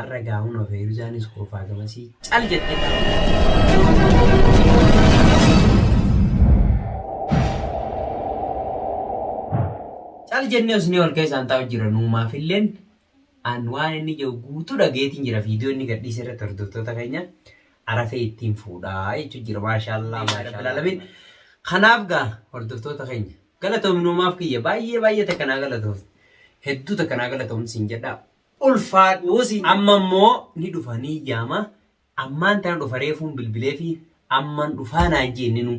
Arra gaa hunoo Feeruzaanis kolfaa gamasii cal jette gaa. Cal jennee usnee wal keessaan taa'u jira nuumaafilleen an waan inni jiru guutuu dhageetiin jira viidiyoo inni gadhiise irratti hordoftoota keenya arafee ittiin fuudhaa jechuu jira maashaallaa maashaallaalamiin. Kanaaf gaa hordoftoota keenya galatoomi nuumaaf kiyya baay'ee baay'ee takka naa galatoofte hedduu takka naa galatoomte siin jedhaa. ulfaadhuu si amma immoo ni dhufa ni yaama ammaan tana dhufa reefuun bilbilee fi amman dhufaa naan jeenninu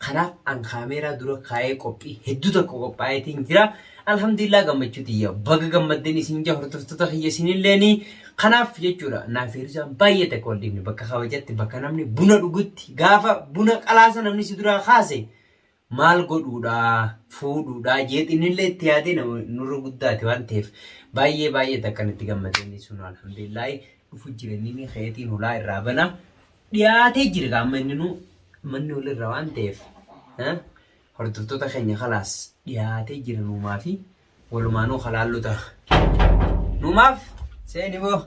kanaaf an kaameeraa dura kaa'ee qophii hedduu tokko qophaa'eetiin jira alhamdulillah gammachuu tiyya baga gammadden isin jaa hordoftoota kiyya isinilleeni kanaaf jechuudha naaf hirrisaan baay'ee takka wal dhibne bakka kabajatti bakka namni buna dhugutti gaafa buna qalaasa namni si duraa kaase maal godhuudhaa fuudhuudhaa jeet innillee itti yaadee nama nurra guddaati waan ta'eef baay'ee baay'eet akkan itti gammadee inni sun alhamdulillaahi dhufu jira inni keetiin hulaa irraa bana dhiyaatee jira gaa amma inni nu manni olirra waan ta'eef eh, hordoftoota keenya kalaas dhiyaatee jira nuumaa fi Walumaanuu kalaallu ta'a. Numaaf seeni boo.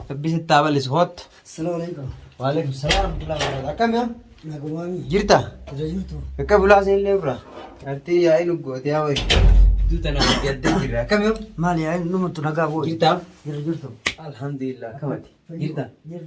Rabbi sitti haa bal'isu hoottu. Assalamu alaikum. Waalaikum salaam warahmatullahi wabarakatuh. Akkam yaa? Nagumaami. Jirta? Jira jirtu. Akka bulaa seenillee irraa. Artii yaa'ii luggooti yaa wayi. Duu tanaa yaddee jirra. Akkam yaa? Maali yaa numattu nagaa booda. Jirta? Jira jirtu. Alhamdulillah akkamati. Jirta? Jira.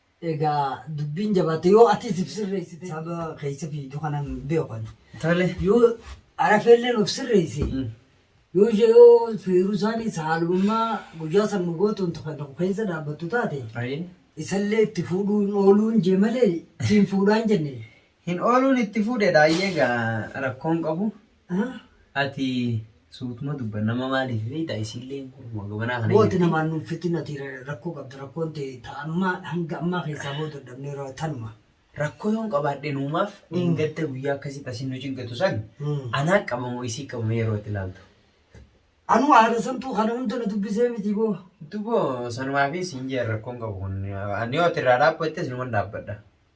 Egaa dubbiin jabaatte yoo atis if sirreessite saba keessa fiidu kanan beeku ani. Tole. Yoo arafeelleen of sirreesse Mm. yoo ishee yoo fiiruu isaanii saalummaa guyyaa san nu gootuun tokko tokko keessa dhaabbattu taate Ayi. isallee itti fuudhuun ooluun jee malee ittiin fuudhaan jenne Hin ooluun itti fuudhe dhaayyee gaa rakkoon qabu ati suutuma dubba nama maaliif beeyta isiilleen kuruma gabanaa kana Wooti jirti. namaan nuuf fitin ati rakkoo qabda rakkoon ta'e ta amma hanga ammaa keessaa boo dadhabnee ra- tanuma. Rakkoo yoon qabaadhe nuumaaf dheengadda guyyaa akkasii tasin nu cinqatu san Mm. anaa qabamoo isii qabame yeroo itti ilaaltu. Anuu haadha santuu kana hunda na dubbisee miti boo. Duboo sanumaafii siin jeen rakkoon qabu kun ani yoo ati irraa dhaabbattes numan dhaabbadha.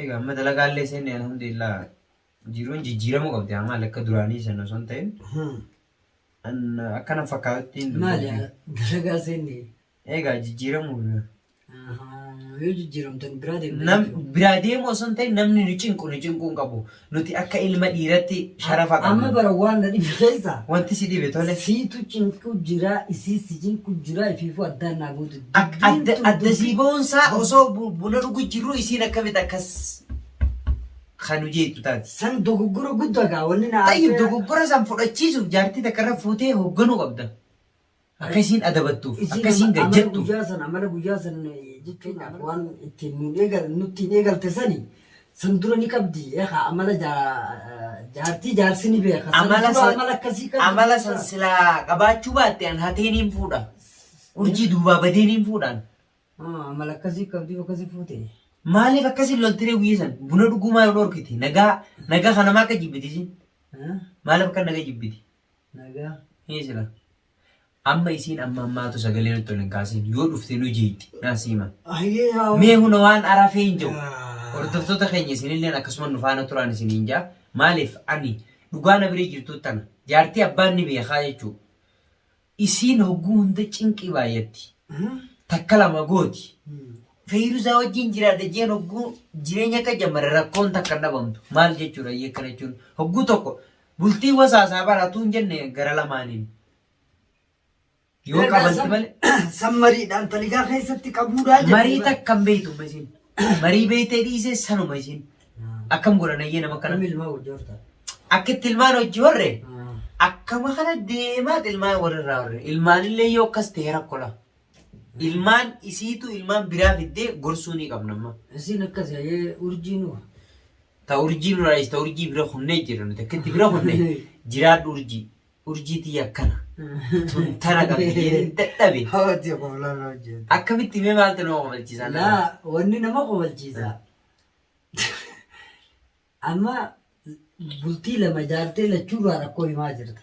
Egaa amma dalagaallee seenne alhamdulillah jiruun jijjiiramuu qabdi amma lakka duraanii sana osoo hin ta'in an- akkana fakkaatutti hin Maali dubbatu. dalagaa seenne Egaa jijjiiramuu yoo jijjiiramtan biraa deemtan nam jechuudha. biraa deemu osoo hin ta'in namni nu cinqu nu cinquu hin qabu Nuti akka ilma dhiiratti sharafa qabna. Amma bara waan na dhibe keessa. Wanti si dhibe tole. Siitu cinqu jira isii si cinqu jira ifiifuu addaan naa gootu. Adda sii boonsaa osoo buna dhugu jirru isiin akkamitti akkas kan hojeetu taate. San dogoggora guddaa gaa wanni naa. Tayyib dogoggora san fudhachiisuuf jaartii takka irra fuutee hoogganuu qabda. Akka isiin adabattuuf, akka Isiin isiin amala gajjattuuf. guyyaa san amala guyyaa san eh, jechuun waan ittiin nuun eegal nuttiin eegalte sani san dura ni qabdi eeka amala jaa- jaartii jaarsi ni beeka san Amala dura san- amala akkasii qabdi Amala san jechuudha. silaa qabaachuu baatte an hatee niin fuudha. Urjii duubaa badee niin fuudhaan. Ah, amala akkasii qabdi akkasii fuute Maaliif akkasiin loltiree guyyaa san buna dhugumaa yoo dhorkite nagaa nagaa kanamaa akka jibbiti isiin. Eh? Maaliif akka naga jibbiti? Nagaa hii sila. Amma isiin amma ammaatu sagalee nutti ol hin kaasin. Yoo dhufte nu jeetti. Naa siima. Ayyee haa. Mee huna waan arafee hin jiru. Hordoftoota keenya isinilleen akkasuma nu faana turaan isin hin jaa. Maaliif ani dhugaa na bira jirtu tana. Jaartii abbaan ni beekaa jechuu. Isiin hogguu hunda cinqii baay'atti. Takka lama gooti. Feeyirusaa wajjin jiraadha jeen hogguu jireenya akka jammare rakkoon takka hin dhabamtu. Maal jechuudha iyyee akkana jechuun hogguu tokko Bultii wasaasaa baratuu hin jenne gara lamaaniin. Yoo Ergaa qabanti san- malee San mariidhaan taligaa keessatti qabuudhaa jette. marii takka hin beektu amma isiin. Marii beektee dhiisee sanuma isiin. Akkam godhan ayyee nama kana. Kamil maa wajjin horta. Akka itti ilmaan hojii horre akkama kana deemaa ilmaan warrirraa horre. Ilmaanillee yoo akkas ta'e rakkola. Ilmaan isiitu ilmaan biraa fiddee gorsuu ni qabna amma. Isiin akkas ayee urjii nuu. Ta urjii nurraa dhiis ta urjii bira kunnee jedha nuti akka itti bira kunne jiraadhu urjii. Urjii tiyya akkana. Tun tana qabdi jedhee dadhabe. Hawwati koflaan hojjetu. Akkamitti mee maaltu nama kofalchiisa? Laa wanni nama kofalchiisa. Amma bultii lama jaartee lachuurraa rakkoo himaa jirta.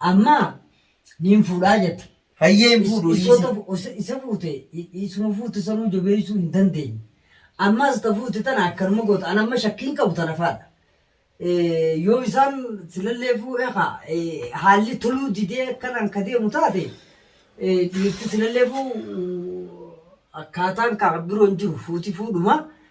Amma niin fuudhaa jette. Hayyee hin fuudhu Is- dhiisi. isota- isa- isa fuute i- isuma fuute sanuu jabeessuu hin dandeenye ammas ta fuute tana akkanuma goota an amma shakkiin qabu tana faadha Eh, yoo isaan silallee fuudhe ka eh, haalli toluu didee akkanaan ka deemu taate eh, dhiirti silallee fuu akkaataan kaa biroo hin jiru fuuti fuudhuma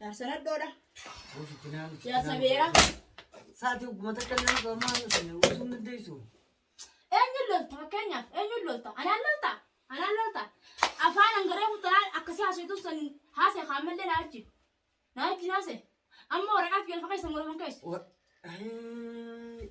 Jaarsa nadhoodha. Jaarsa beera. Sa'aatii ogguma takka illee osoo ammaa hin dhufne osoo hin dandeessu. Eenyuun lolta fakkeenyaaf eenyuun lolta anaan lolta anaan lolta afaan hangaree mutanaa akkasii haasoftu san haasee kaammallee naa wajjin naa wajjin haasee amma waraqaa fi galfa keessa muraman keessa Wa- Ayii.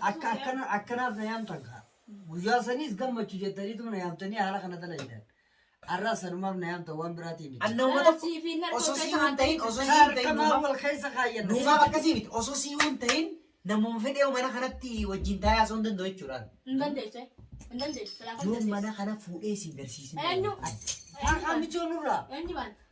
Akka akkana akkanaaf na yaamtan kaa. Guyyaa saniis gammachu jettaniitu na yaamtanii haala kana dalagidan. Arraa sanumaaf na yaamtan waan biraatii miti. An nama tokko osoo sii hin ta'in osoo sii hin ta'in Kaarkamaa nuumaaf wal keessa kaayyan. nuumaaf akkasii miti osoo sii hin ta'in namuma fedhee mana kanatti wajjin taa'ee osoo hin danda'u jechuudhaan. Yoon mana kana fuudhee siin garsiisin. Eenyu? Kaarkaa michoon nurraa.